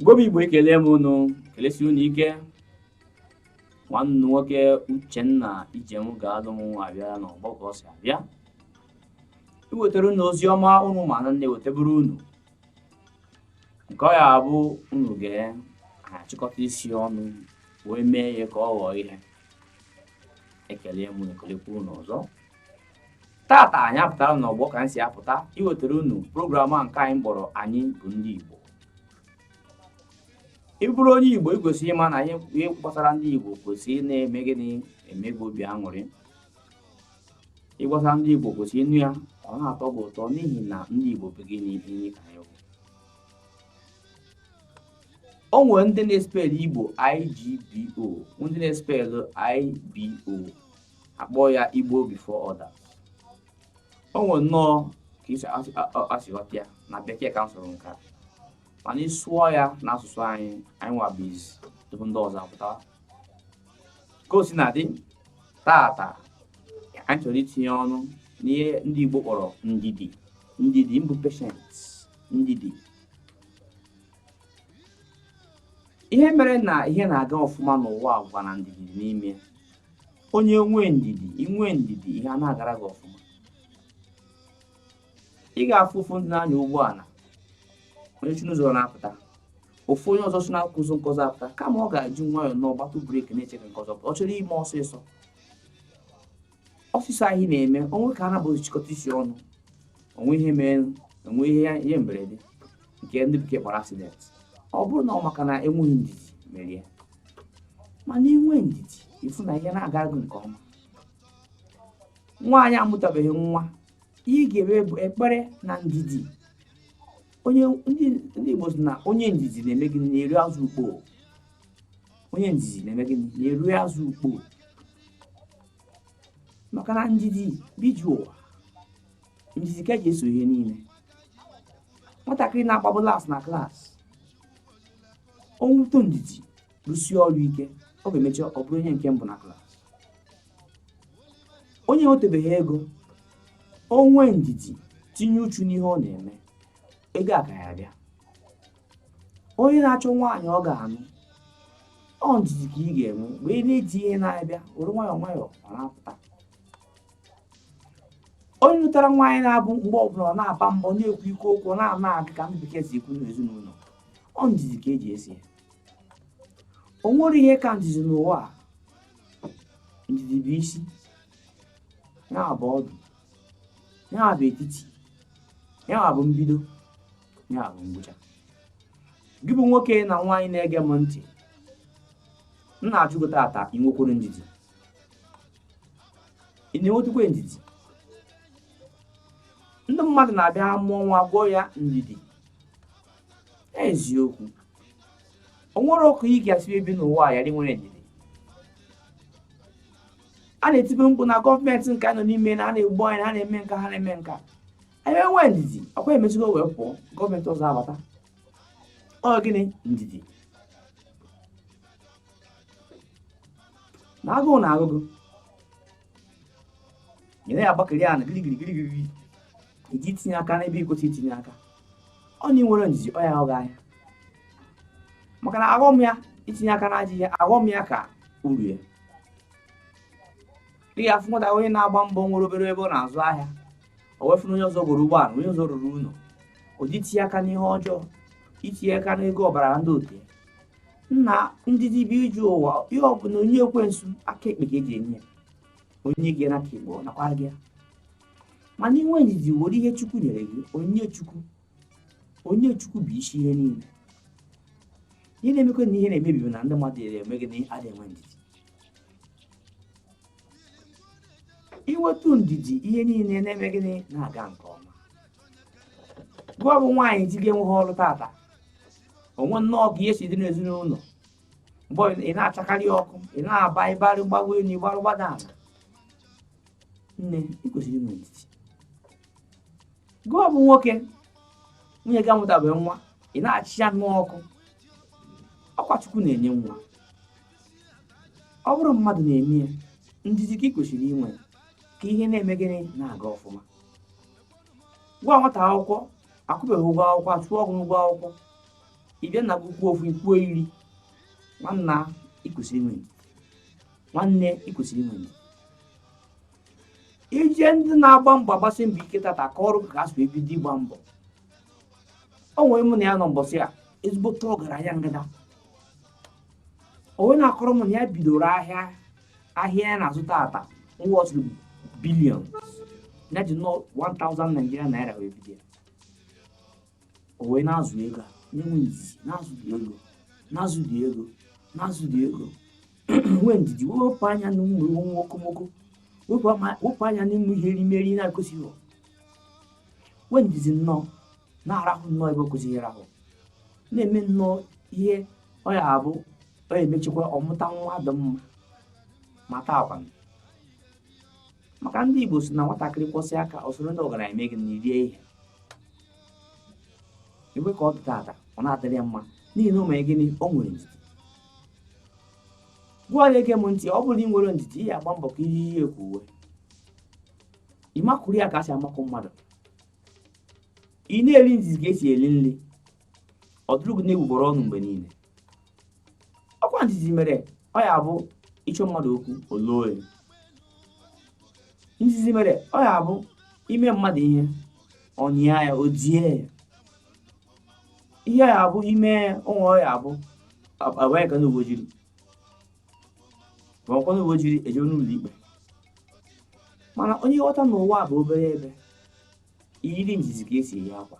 Igbo bụ Igbo ekele m unu kelesi unu ike nwanne unu nwoke Uchenna Ijemgalum abịa n'ọgbọ ka ọ si abịa iwetara unu ozi ọma unu ma na na-eweteburu unu nke ọ ya-abụ unu ga-achịkọta isi ọnụ wee mee ya ka ọ ghọọ ihe ekele m unu ekelekwa unu ọzọ tata anyị apụtara n'ọgbọ ka anyị si apụta iwetara unu program a nke anyị kpọrọ anyị bụ ndị Igbo ị bụrụ onye Igbo i kwesịrị ịma na ihe gbasara ndị Igbo kwesịrị na-eme gịnị eme gị obi aṅụrị ihe gbasara ndị Igbo kwesịrị ịnụ ya ọ na-atọ gị ụtọ n'ihi na ndị Igbo bụ gịnị ihe ka anyị bụ o nwere ndị na-espelụ Igbo IGBO ndị na-espelụ IBO akpọ ya igbo before others o nwere nnọọ ka i si aghọta ya na bekee ka m sụrụ nke a mana ịsụọ ya na asụsụ anyị anyị nwa bụ izizi tupu ndị ọzọ apụtawa ka o sina dị tata anyị chọrọ itinye ọnụ n'ihe ndị igbo kpọrọ ndidi ndidi mbụ patient ndidi ihe mere na ihe na-aga ọfụma n'ụwa agwa na ndidi n'ime onye nwee ndidi i nwee ndidi ihe ana-agara gị ọfụma ị ga-afụ ụfọdụ ndị na-anya ụgbọala onye si n'ụzọ na-apụta ofu onye ọzọ si n'akụkụ ụzọ nke ọzọ apụta kama ọ ga-eji nwayọọ na ọ gbatụ brake na-eche ka nke ọzọ ọ chọrọ ime ọsịsọ ọsịsọ anyị na-eme o nwee ka ha na abụọ chịkọta isi ọnụ o nwee ihe mere o nwee ihe mberede nke ndị bekee kpọrọ accident ọ bụrụ na ọ maka na enweghị ndidi mere ya mana i nwee ndidi ị fụ na ihe na-aga gị nke ọma nwaanyị amụtabeghị nwa ihe ị ga-eme bụ ekpere na ndidi ndị Igbo sị na onye ndidi na-eme gịnị na-eri azụ ukpo onye ndidi na-eme gịnị na-eri azụ ukpo maka na ndidi biju ụwa ndidi ka e ji eso ihe niile nwatakịrị na-agbabu last na class o nwetụ ndidi rụsie ọrụ ike ọ ga-emecha ọ bụrụ onye nke mbụ na class onye enwetebeghị ego o nwee ndidi tinye uchu n'ihe ọ na-eme ego a ka ya-abịa onye na-achọ nwaanyị ọ ga-anụ ọ ndidi ka ị ga-enwe mgbe ị na-eti ihe na-abịa were nwayọọ nwayọọ ọ na-apụta onye nụtara nwaanyị na-abụ mgbe ọbụla ọ na-aba mba na-ekwu ike okwu na-anag ka ndị bekee si ekwu n'ezinụlọ ọ ndidi ka eji esi ya o nwere ihe ka ndidi n'ụwa a ndidi bụ isi ya bụ ọdụ ya bụ etiti ya bụ mbido ya bụ ngwụcha gị bụ nwoke na nwaanyị na-ege m ntị m na-ajụ gị tata ị nwekwara ndidi ị na-enwetukwa ndidi ndị mmadụ na-abịa mụọ nwa gụọ ya ndidi eziokwu o nwere otu ị ga-esi ebi n'ụwa a yara inwe ndidi a na-etibe mkpu na gọọmenti nke a nọ n'ime na a na-egbu anyị na a na-eme nke a ha na-eme nke a anyị enwee ndidi ọkwa emezigo wee pụọ gọọmenti ọzọ abata ọ gịnị ndidi na agụụ na-agụ gị ị naghị agbakịrị ana girigiri girigiri iji itinye aka n'ebe ị kwesịghị itinye aka ọ na ị nwere ndidi ọ ya ahụghị anya maka na aghọm ya itinye aka n'ajọ ihe aghọm ya ka uru ya ị ga-afụ nwata onye na-agba mbọ nwere obere ebe ọ na-azụ ahịa o wee fụ onye ọzọ goro ụgbọala onye ọzọ rụrụ ụlọ o je itinye aka n'ihe ọjọọ itinye aka n'ego ọbara ndị otu nna ndidi bụ ije ụwa ihe ọ bụla onye ekwensu aka ekpe ka o ji enye o nye gị n'aka ekpe ọ nakwa gị mana inwe ndidi were ihe chukwu nyere gị onye chukwu onye chukwu bụ isi ihe niile ihe na-emekwa na ihe na-emebi na ndị mmadụ eme gịnị adịghị enwe ndidi inwetu ndidi ihe niile na-eme gịnị na-aga nke ọma gịwa bụ nwaanyị di gị enweghị ọrụ tata o nwee nnọọ ka ihe si dị n'ezinụlọ mgbe ị na-achakarị ọkụ ị na-agba ị gbarụ gbago enu ị gbarụ gbada ala nne ị kwesịrị inwe ndidi gịwa bụ nwoke nwunye gị amụtabeghị nwa ị na-achị ya nnọọ ọkụ ọkwa chukwu na-enye nwa ọ bụrọ mmadụ na-eme ya ndidi ka ị kwesịrị inwe ka ihe na-eme gịnị na-aga ọfụma gịwa nwata akwụkwọ akwụbeghị ụgwọ akwụkwọ achụọ gị n'ụgwọ akwụkwọ ị bịa na-ekwu kwuo ofu ị kwuo iri nwanna ịkwesịrị inwe nwanne ịkwesịrị inwe ndidi ndị na-agba mbọ agbasi mbọ ike tata kọọrọ ka ha si bido ịgba mbọ o nwere mụ na ya nọ mbọsị a ezigbote ọgaranya ngada o wee na-akọrọ m na ya bidoro ahịa ahịa ya na-azụ tata worth billions ya ji nnọọ 1000 Nigerian naira wee bido ya o wee na-azụ ego a na-enwe ndidi na-azụ dị ego na-azụ dị ego na-azụ dị ego nwee ndidi wepụ anya n'ụmụ uwe okomoko wepụ anya n'ụmụ ihe erimeri na-ekwesịghị nwee ndidi nnọọ na-arahụ nnọọ ebe o kwesịrị ịrahụ na-eme nnọọ ihe ọ ya abụ ọ ya emechikwa ọ mụta nwa dị mma ma taa akwa maka ndị Igbo sị na nwatakịrị kwọsịa aka o soro ndị ọgaranya emee gịnị rie ihe igwe ka ọ dị tata ọ na-adịrị ya mma n'ihi na o mere gịnị o nwere ndidi gịnwa na-ege m ntị ọ bụrụ na ị nwere ndidi ị ya agba mbọ ka i yie ya ka uwe ị makụrụ ya ka a si amakụ mmadụ ị na-eri ndidi ka esi eri nri ọ dụrụ gị n'egbugbere ọnụ mgbe niile ọ kwa ndidi mere ọ ya bụ ị chọọ mmadụ okwu o loe ndidi mere ọ ya bụ i mee mmadụ ihe ọ nyịa ya o die ya ihe ya abụ ime onwe ọ ya abụ abanye aka ndị uwe ojii ma ọ kwa ndị uwe ojii ejewe n'ụlọ ikpe mana onye ghọta na ụwa bụ obere ebe i yiri ndidi ka esi eyi akwa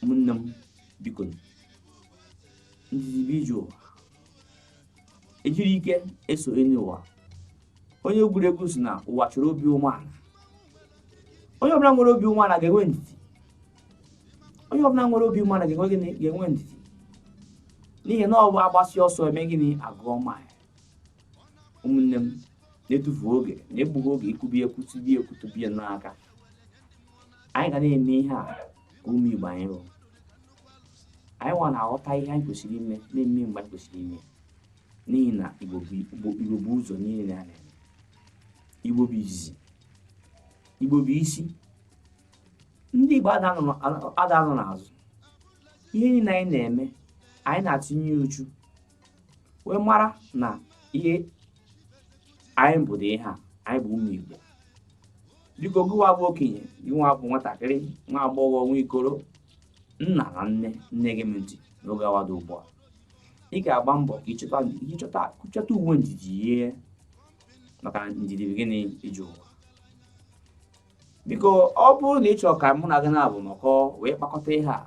ụmụnne m biko ndidi bụ ije ụwa ejighị ike eso enyi ụwa onye egwuregwu sị na ụwa chọrọ obi umeala onye ọbụla nwere obi umeala ga-enwe ndidi onye ọbụla nwere obi umeala ga-enwe gịnị ga-enwe ndidi n'ihi na ọ bụ agbasịa ọsọ emee gịnị agụọ mile ụmụnne m na-etufu oge n'egbughị oge ikwubi ekwu tibi ekwu tubie n'aka anyị ga na-eme ihe a ka ụmụ igbo anyị rụrụ anyị nwa na-aghọta ihe anyị kwesịrị ime na-eme mgbe anyị kwesịrị ime n'ihi na igbo bụ igbo igbo bu ụzọ n'ihe a na-eme igbo bụ izizi igbo bụ isi ndị igbo ada anọ na- ada anọ n'azụ ihe niile anyị na-eme anyị na-etinye uchu wee mara na ihe anyị bụ dị ihe a anyị bụ ụmụ igbo biko gịnwa bụ okenye gịnwa bụ nwatakịrị nwa agbọghọ nwa okoro nna na nne na-ege m ntị n'oge awa dị ugbu a ị ga-agba mbọ ka ịchọta ịchọta chọta uwe ndidi yie maka ndidi bụ gịnị ije ụwa biko ọ bụrụ na ị chọrọ ka mụ na gị naabọ nọkọọ wee kpakọta ihe a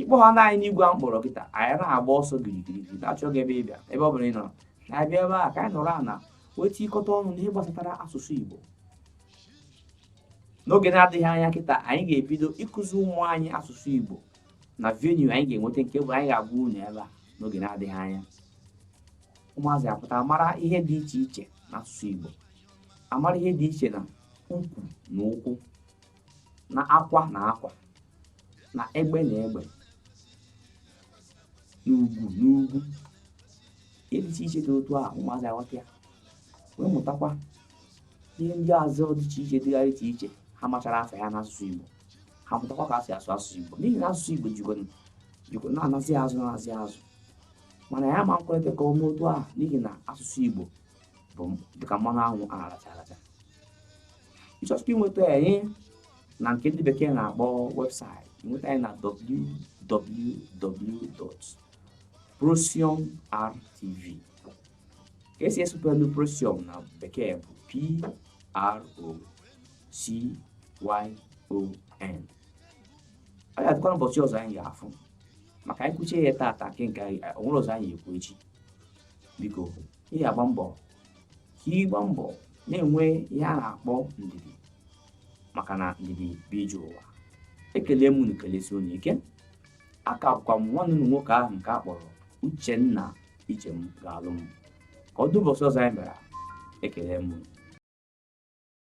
ị kpọọ ha na anyị n'igwe a m kpọrọ kịta anyị na-agba ọsọ girigiri na-achọ gị abịa ebe ọ bụla ị nọrọ na-abịa ebe a ka anyị nọrọ ana wee tikọta ọnụ n'ihe gbasatara asụsụ Igbo n'oge na-adịghị anya kịta anyị ga-ebido ịkụzi ụmụ anyị asụsụ Igbo na venue anyị ga-enweta nke bụ anyị ga-agwa unu ebe a n'oge na-adịghị anya ụmụazị apụta mara ihe dị iche iche n'asụsụ Igbo amara ihe dị iche na ukwu na ụkwụ na akwa na akwa na egbe na egbe na ugwu na ugwu ihe dị iche iche dị otu a ụmụazị aghọta ya wee mụtakwa ihe ndị ọzọ dị iche iche dịgasị iche iche ha machara afa ya n'asụsụ Igbo ha mụtakwa ka e si asụ asụsụ Igbo n'ihi na asụsụ Igbo jikwa jikwa na-anazi azụ na-azi azụ mana anyị ama ekweta ka ọ mee otu a n'ihi na asụsụ Igbo bụ dịka mmanụ anwụ a na-aracha aracha ị chọsịkwa inweta anyị na nke ndị bekee na-akpọ website ị nweta anyị na www.procyonrtv ka e si esupelu procyon na bekee bụ p r o c y o n ọ ga-adịkwa n'ụbọchị ọzọ anyị ga-afụ maka anyị kwuchaa ya taata nke o nwere ọzọ anyị ekwu echi biko ị ga-agba mbọ ka ị gba mbọ na-enwe ihe a na-akpọ ndidi maka na ndidi bụ ije ụwa ekele m unu kelesie unu ike a ka bụkwa m nwanne unu nwoke ahụ nke a kpọrọ uchenna ije m ga-alụ m ka ọ dị ụbọsị ọzọ anyị mere ekele m